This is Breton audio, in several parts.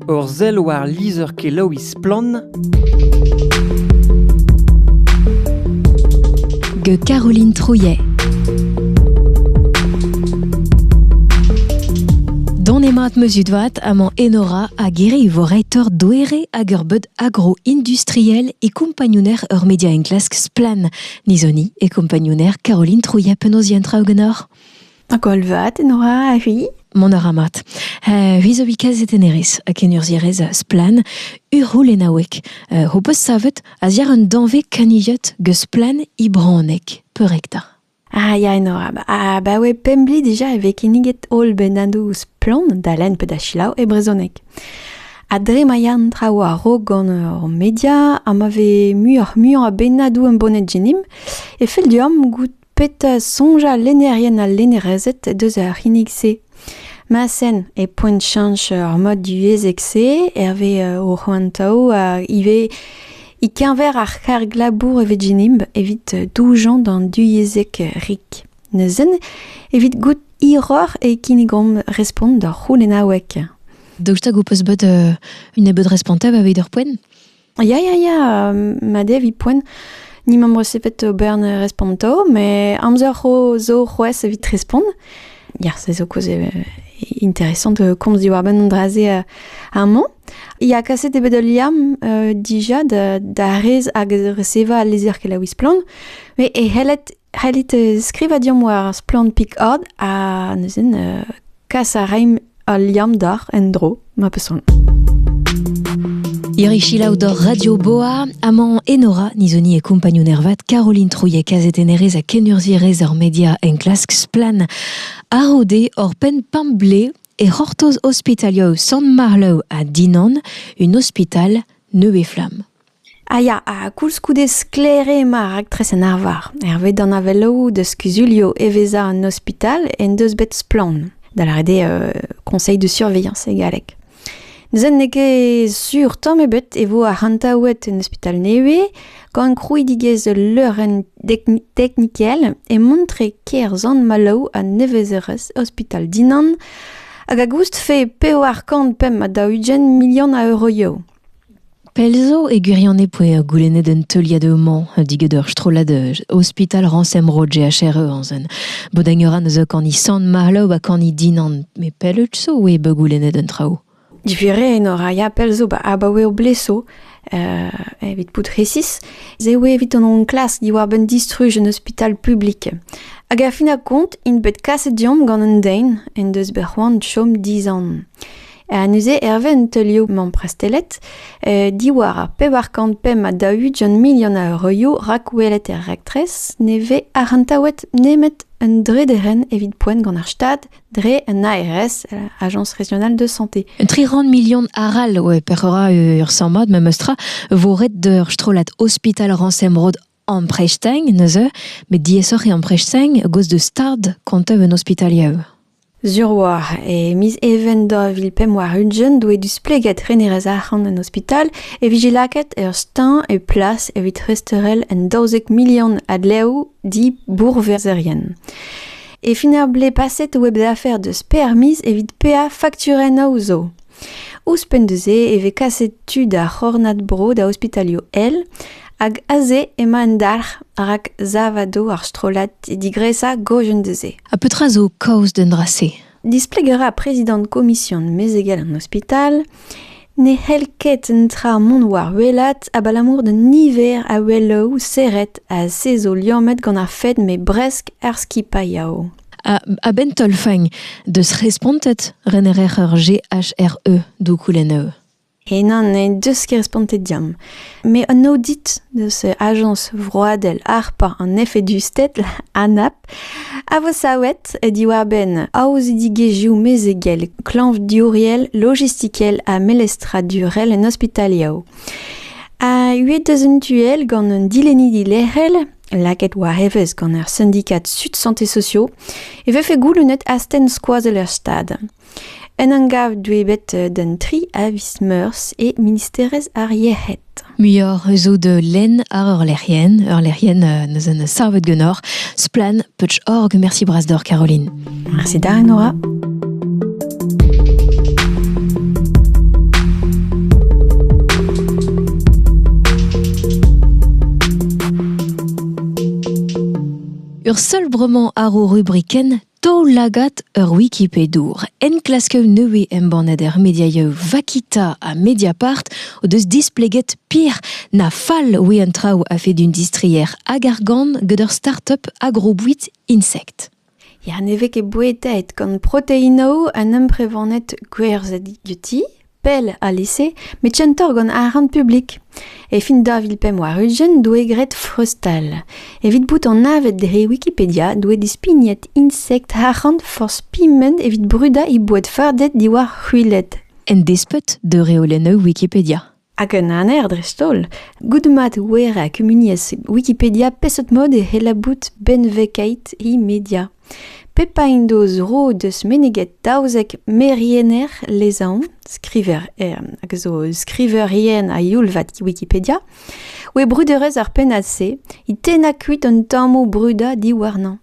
Ur sell war lizher-kelaouiñ Splann! gant Caroline Trouillet. Donemat meuzudvat amañ Enora a gere vo reitor doere hag ur beud agro-industriel e kompagnouner ur media enklask Splan. Nizoni e kompagnouner Caroline Trouillet penaos traoù ganeoc'h? Koll vat, Nora, oui Mont a ra mat. Uh, ri zo vikaz etenerez, a kenurzierez a splan, urhoul enauek. Uh, ho peus savet a ziar un danve kanilhot geus splan i braonek, peurekta. Ah, ya, Nora, ba, ah, ba oe pembli dija e ve kinniget holl bennadou splan da len pe da chilaou e brezonek. Ha dre ma ya an traoù a-raok gant ur media, ha ma ve muioc'h-muiañ a bennadou em boned genim, e fell deomp goût Petra soñjal lennerien ha lennerezed deus ar c'hinnig-se? Ma sen, e poent chañch ar mod divyezhek-se hervez o c'hoantaoù ha ivez e-keñver ar c'harg-labour e Virginimb evit doujañ d'an divyezhek rik. Neuzen, evit goût hiroc'h e kinnigomp respont d'hor c'houlennaoueg. Daoust hag ho peus bet un nebeud respontañ evit ur poent? Ya, ya, ya, mad eo 'vit poent. Ni m'am boa sepet ober ne responto, met amzer zo c'hoazh evit respont. Ya, se zo koz interesant komz diwar-benn an dra-se amañ. Ya, kaset eo bet ul liamm dija da rez hag resevañ al lizher kelaouiñ Splann, met e c'helled C'hellit skrivañ deomp war Splann Picard ha neuze kas a raimp al liamm doc'h en-dro ma peus soan. Irichilaou dor Radio Boa, Amant Enora, Nizoni e kompagnon ervat Caroline Trouillet kazetennerez ha kenurzhierez ar media enklask Splan. Arode hor penn pamble e c'hortoz ospitalia San Marlow a Dinan, un ospital neuve flamme. A ya, ha koulskoude sklaer eo emañ ar raktres en arvar. Hervez danavelloù deus kuzulioù evezhañ an ospital en deus bet splann, da lâret eo euh, conseil de surveillance e galleg. Neuze n'eo ket sur tamm ebet e vo arc'hantaouet un ospital nevez gant krouidigezh ul leurenn teknikel e montre ker Sant-Maloù ha nevezerezh ospital Dinan hag a goustfe pevar kant pemp ha daou-ugent milion a euroioù. Pell zo, e gwirionez, e oa goulennet un teuliad houmañ digant ur strollad ospital rañsemro GHR-Euanzen. Bout a ra neuze kani Sant-Marlow ha kani Dinan. Met pell out zo e vo goulennet an traoù? Diferañ eno a ya pell zo abaoe o bleso, evit bout resis, ez eo evit an enklask diwar-benn distruj un ospital publik. Hag a fin ar kont int bet kaset deomp gant un den en deus bet c'hoant chom dizanv. Ha neuze, hervez an teulioù mamprestellet, diwar ar pevar kant pemp ha daou-ugent milion a euroioù rakwelet er raktres, ne vez arc'hantaouet nemet un drederenn evit poent gant ar Stad dre un ARS, Agence régionale de santé. Un tri rand million arall, ouais, per ura ur sammad, memes tra, vo ret d'ur strollad ospital Ransem Road Ampreizh-teñ neuze, met diaesoc'h eo ampreizh teñ a-gaoz d'eus stad kontev un ospitalier. Sur oa, e miz Even daou vil pemp warn-ugent doe displeget renerez arc'hant an ospital e vije lakaet ur steuñv e plas evit resteurel un daouzek milion a dleoù dibourverzerien. E fin ar blez paset web d'affaires deus permiz evit peañ fakturennoù zo. Ouzhpenn da-se e vez kaset tud ar c'hornad-bro da ospitalioù èl hag aze emañ un dalc'h rak sav a do ar strollad digresañ gojenn da-se. Ha petra zo kaoz d'un dra-se? Displeg a ra prezidant komision mezegel an ospital ne c'hell ket un tra mont war welat abalamour d'un niver a wellaoù serret a sezo liammet gant ar fed met bresk ar skipailh yao. A-benn taol-faign, deus respontet renerer ur GHRE d'ho koulenneù. Henañ n'he deus ket respontet deomp. Met an aodit deus ajañs vroadel harpañ an efedusted, ANAP, a vo savet diwar-benn aozidigezhioù mezegel, klañvdiouriel, logistikel ha melestradurel en ospitalioù. A-hed deus un tu all gant un dilennidi lec'hel Lakaet war evezh gant ar sindikad Sud Santé Sociaux e vefe goulennet astenn skoazell er Stad. En un gav deuet d'an tri a viz meurzh e ministerez ar Yec'hed. Muioc'h zo de lenn ar eurlec'hienn. Eurlec'hienn, neuzen savet genoc'h. Splan, Putsch Org. Merci bras d'or, Caroline. Mersi da Enora. Ur seul bremañ àr ho rubrikenn Taol-lagad ur Wikipedour. Enklasker nevez embannet er mediaioù Vakita ha Mediapart o deus displeget pir na fall ouie an traoù a-fed un distrier hag argant gant ur start-up agrobouit insect. Ya ne vez ket bouetaet gant proteinoù an amprevaned gwerzhet diouti, pell alese, met kentoc'h gant arc'hant publik. E fin daou vil pemp warn-ugent doe graet freuztal. Evit bout anavet dre Wikipedia doe dispignet insekt arc'hant forzh piment evit brudañ he boued fardet diwar c'hwiled. En desped d'ur reolennoù Wikipedia. Hag un aner dreist-holl, goude mat wer ha kumuniezh Wikipedia peseurt mod e c'heller bout benvegait he media. Pep a en deus ro deus meneget daouzek meriener lezaon, skriver hag a zo skriverien a youl-vat Wikipedia, oe bruderezh ar pennad-se, he tennañ kuit an tammoù brudañ diwarnañ.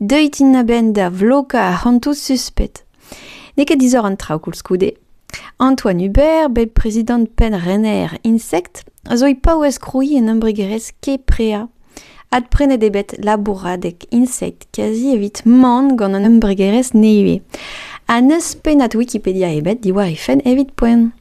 Deuit int a-benn da vlokañ ar c'hantoù suspet. N'eo ket disoc'h an traoù koulskoude. Antoine Hubert, bet prezidant penn rener Insect, a zo e paouez krouiñ un embregerezh Keprea. Adprenet eo bet labouradeg Insect kazi evit man gant an embregerezh nevez. Ha n'eus pennad Wikipedia ebet diwar he fenn evit poent.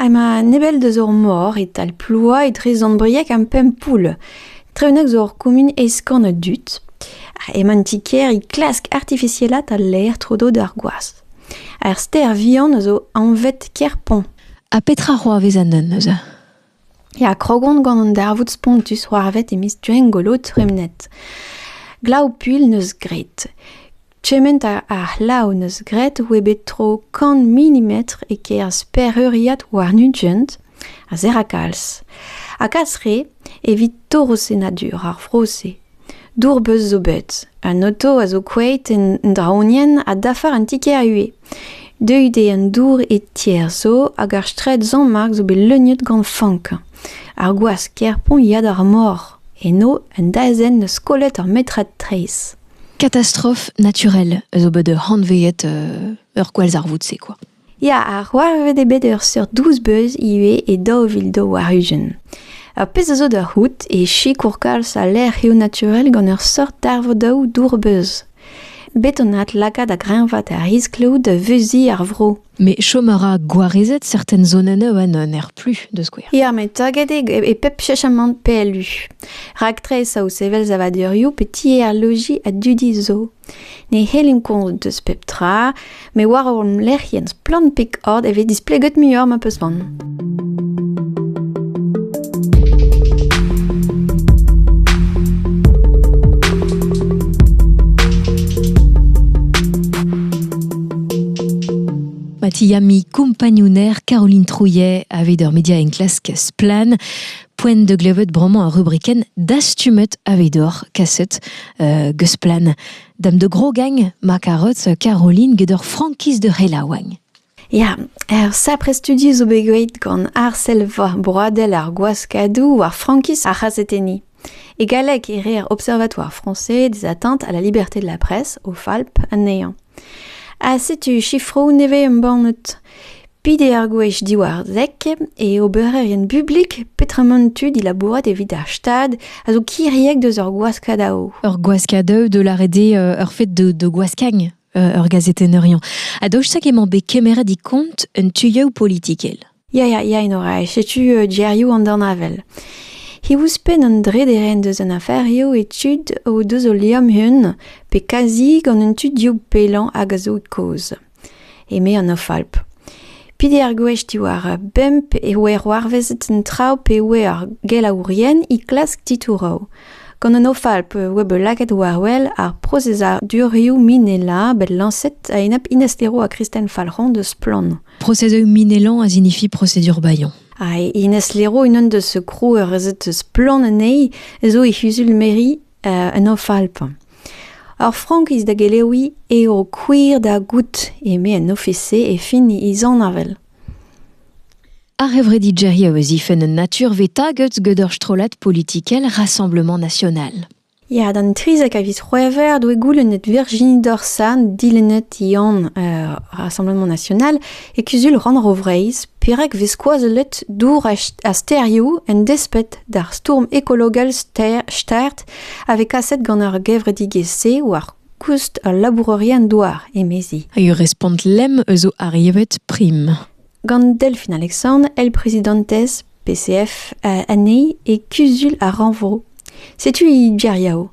Emañ an Ebel deus ur mor e-tal Ploua etre Sant-Brieg ha Pempoull. Tre-unnek zo ur kumun eskant a dud. Emañ an ti-kêr é klask artifisielaat al laer tro-dro d'ar gwaz. Ar stêr vihan a zo anvet Kerpont. Ha petra c'hoarvez anezhañ neuze? Ya, krog on gant an darvoud spontus c'hoarvet e miz Gwengolo tremenet. Glav-puilh 'neus graet. Kement a c'hlav 'neus graet oe bet tro kant milimetr e-kerzh pereuriad war Nugent a zera kalz. Ha kas re evit torrosennadur ar vro-se. Dour-beuz zo bet, un oto a zo koueit en draonienn ha dafar un ti-kêr ivez. Deuet eo an dour e tier zo hag ar straed Zañmark zo bet leuniet gant fank. Ar gwask Kerpont ya d'ar mor. Eno un daezenn 'neus kollet ur metred traezh. Catastrophe naturelle zo bet hanveet ur gwallzarvoud-se quoi. Ya, ar c'hoarvet eo bet ur seurt douz beuz ivez e daou vil daou war-ugent. Ur pezh a zo da c'hoût e sikour kalz al lec'hioù naturel gant ur seurt darvoudaoù dour-beuz. Bet on aet lakaat a-greñvaat ar riskloù da veuziñ ar vro. Mais chom a ra gwarezet certaines zonennoù annon er plus, da skouer. Ya, met taget eo e pep chesamant PLU. Raktres o sevel savadurioù pe tier al loji a dudi zo. Ne c'hellimp konzet deus pep tra, met war hon lec'hienn splann pek ord e vez displeget muioc'h ma peus van. Yami compagnouner Caroline Trouillet avait der Media Klasque Splan. Poen de glevet broman a rubriken dastumet avait dor kaset euh, gesplan. Dam de gro gang ma Caroline geder Frankiz de Relawang. Ya, ur sapre studi zo bet graet gant arsellva broadel ar gwaskadoù war frankiz ar c'hazetenniñ. E galleg e reer Observatoire français des atteintes à la liberté de la presse, o FALP, anezhañ. Ha setu sifroù nevez embannet. Pit eo ar gwech diwar dek e obererien bublik petramant tud dilabourat evit ar Stad a zo kiriek deus ur gwaskad ao. Ur gwaskad eu de lâret eo ur fed de, de gwaskagn ur gazetenneuriañ. A daoust emañ bet kemeret e kont un tuioù politikel. Ya, ya, ya, Enora, setu uh, gerioù an dornavel. He ouzhpenn an drederenn deus an aferioù e tud o deus o liamm-hun, pe kazi gant un tud dioù pellañ hag a zo kaoz. Eme an Ofalp. Peder gwech diwar bemp e voe c'hoarvezet an traoù pa oe ar gelaourien é klask titouroù. Gant an OFALP e oa bet lakaet war-wel ar prosezadurioù minelañ bet lañset a-enep Inez-Leroy ha Kristen Falc'hon deus Splann! Prosezoù minelañ a signifie procédure baillant. Ha Inez Leroy, unan deus krouerezed Splann! anezhi, zo e c'huzul mairie an OFALP. Ar frankiz da geleouiñ eo gwir da goût, eme an ofis-se e fin he zanevell. Ar c'hevredijerioù a zifenn un naturve taget gant ur strollad politikel Rassemblement National. Ya, d'an trizek a viz C'hwevrer doe goulennet Virginie Dorsan, dilennet Yann uh, Rassemblement National, e kuzul Rannvro Vreizh perak vez skoazellet dour ha sterioù en desped d'ar stourm ekologel start a vez kaset gant ar gevredigezh-se war koust ul labourerien-douar, emezi. Ur respont lemm eus ar yevet prim. Gant Delphine Alexandre, elle présidentes PCF euh, anezhi et Kuzul ar Renvro. Setu i geriao.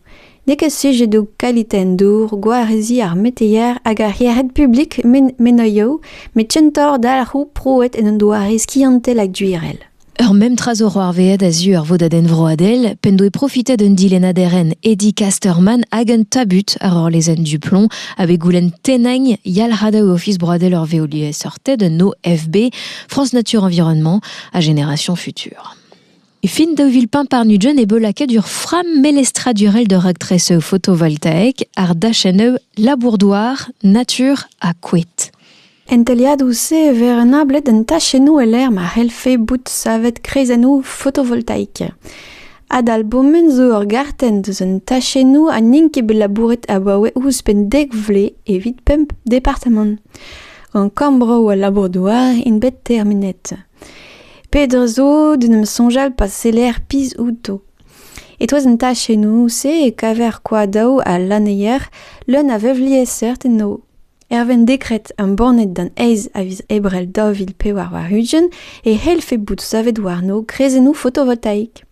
Nek a sujet do kaliten dour, gwarezi ar meteier hag ar hiered publik men, menoio, met chentor dalc'hou proet en un doare skiantel hag duirel. Ur mem tra zo c'hoarvezhet a-zu ar vodadenn vroadel p'en doe profitet un dilennaderenn Eddie Casterman hag un tabut àr ur lezenn Duplomb avait goulenn tennañ yalc'had Ofis broadel ur veoliaeseurted un OFB France Nature Environnement à génération future. E fin daou vil pemp par-nugent e vo lakaet ur fram melestradurel d'ur raktres photovoltaïk àr dachenn labour-douar, natur ha koed. En teuliadoù-se e vez renablet an tachennoù e-lec'h ma c'hellfe bout savet kreizennoù fotovoltaik. Adalbomen zo ur gartenn deus an tachennoù ha n'int ket bet labouret abaoe ouzhpenn dek vloaz evit pemp departamant. Gant kambroù al labour-douar int bet termenet. Petra zo d'en em soñjal pa seller pizh outo? E-touez an tachennoù-se e kaver koadaoù ha lanneier leun a vevliesseurt enno. Erwin dekred embannet d'an aez a viz Ebrel daou vil pevar warn-ugent e c'hellfe bout savet warno greizennoù fotovoltaik.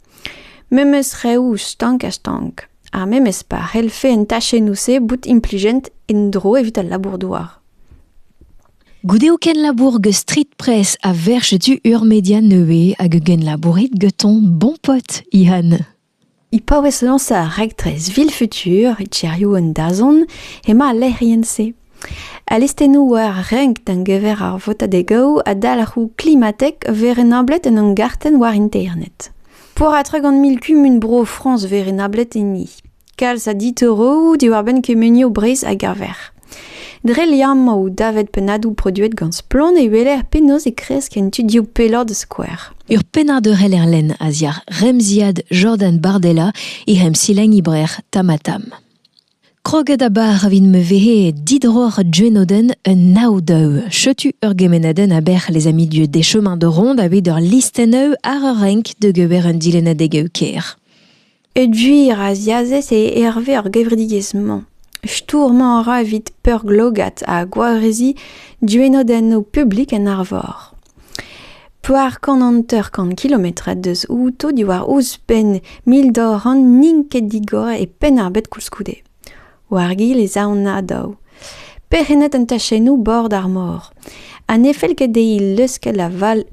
Memes reoù stank ha stank. Ar memes pa c'hellfe an tachennoù-se bout implijent en-dro evit al labour-douar. Goude o kenlabour gant street press a verch du ur media nevez hag un genlabourit gant ton bon pote, Ihan. E paouez lañsañ ar raktres Vilfutur e tiriou an dazont emañ al lec'hienn-se. Al listennoù war renk da-geñver ar votadegoù ha dalc'hoù klimatek a vez renablet en hon gartenn war internet. Peurratra gant mil kumun Bro-Frañs 'vez renablet enni. Kalz a ditoroù diwar-benn kemunioù Breizh a gaver. Dre liammoù davet pennadoù produet gant Splann e weler penaos e kresk en tudioù pelloc'h da skouer. Ur pennad Eurel-Erlen a-ziàr remziad Jordan Bardella he emsilenn ibrer Tamatam. Kroget a-bar vin me vehe didroc'h Jenoden un nav deu. Chetu ur gemenadenn aber les amis du des chemins de ronde aveit ur listenn ar ur renk de gever un dilennadeg ker. E gwir a-ziazez eo hervez ar gevredigezh-mañ. Stourmañ a ra evit peurglogat ha gwareziñ duennodennoù publik en Arvor. Poar kant hanter-kant kilometr deus outo diwar ouzhpenn mil dorn n'int ket digor e Penn-ar-Bed koulskoude. War-gil ez aont a-daou, perc'hennet an tachennoù bord ar mor, ha ne fell ket dezhi leuskel ha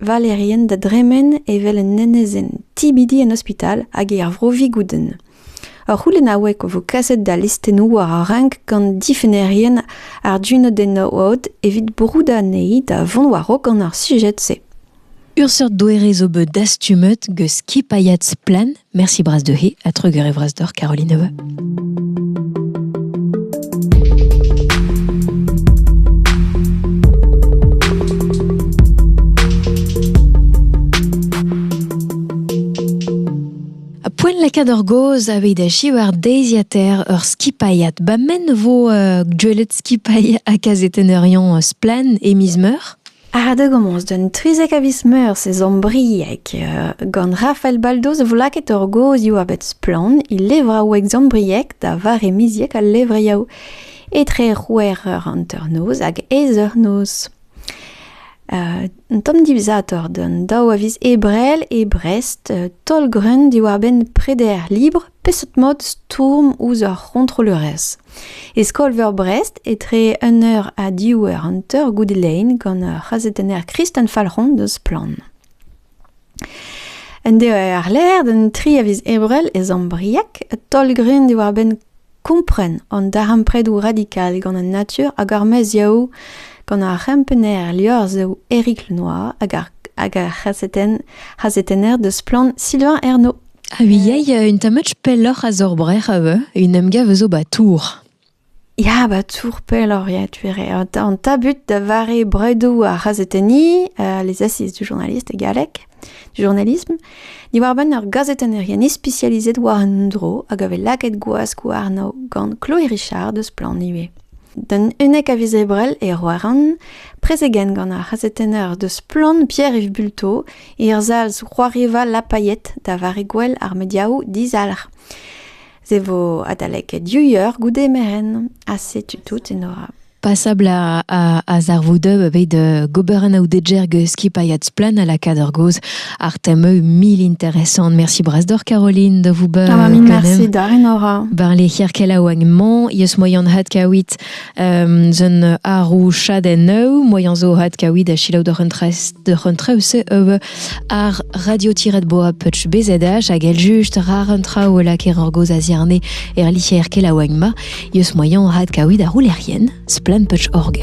Valerien da dremen evel un enezenn tibidi en ospital hag er vro Vigoudenn. Ur c'houlennaoueg a vo kaset da listennoù war ar renk gant difennerien ar Duneau d'en Oad evit broudañ anezhi da vont war-raok gant ar sujed-se. Ur seurt doere zo bet dastumet gant skipailhad Splann. Merci Bras de He ha Treger e Vras d'Or Caroline Neuve. Poen lakaat ur gaoz aveit achi war deiziater ur skipailhad. Ba men vo uh, gwelet skipailh a kazetenn ur Splann e miz meur. Ardegommañs d'un trizek a viz Meurzh e Zambrieg gant Rafael Baldos e vo lakaet ur gozhioù a bep splann e levraoueg zambriek da vare miziek al levriaou etre c'hwec'h eur hanternoz hag aes eur-noz. Un tamm divizatoc'h d'an daou a viz Ebrel e Brest, taol-greun diwar-benn preder libr Peseurt mod stourm ouzh ar c'hontrollerezh? E skol-veur Brest, etre un eur ha div eur hanter goude lein gant ur c'hazetenner Kristen Falc'hon deus Splann. Un deo àr-lerc'h d'un tri a viz Ebrel e Zambriac, taol-grun diwar-benn kompren an darempredoù radikal gant an natur hag ar meziaoù gant ar c'hempenner liorzhoù Eric Lenoir hag ar, hag ar c'hazetenner deus Splann Sylvain Ernaud. A viei, un tamm match pelloc'h a zo ur brec'h ivez, un emgav zo 'ba Tour. Ya, 'ba Tour pelloc'h, ya, tu a rae. An tabut da vare bredoù ar c'hazetenniñ, les assises du journaliste e galleg, du journalisme, diwar-benn ur gazetennerien ispisializet war un dro hag a vez lakaet gwask warno gant Chloé Richard eus Splann ivez. D'un unnek a viz Ebrel e Roaran, prezegenn gant ar c'hazetenner deus Splann, Pierre-Yves Bulto, Er zalz c'hoariva lapaiet da vare gouel ar mediaoù dizalc'h. Se vo adalek div eur goude merenn ha setu tout Enora. Pasabl a, a, a zarvoudeu eveit uh, gober an aoudedjer ge skipailhat splen a lakad ur goz ar temeu mil interesant. Merci bras d'or Caroline de vous be. Ah, merci d'ar Enora. Ben les hirkela oagn man, yes moyan hat kaouit Zun arou chaden eu moyan zo had kaoui da chilaou d'ur un traoù se eu ar radio-boa putsch bezedach hag el just rar un traoù laker ar goz a ziarne er licher kelaouagma yeus moyan had kaoui da roulerien splan putsch org.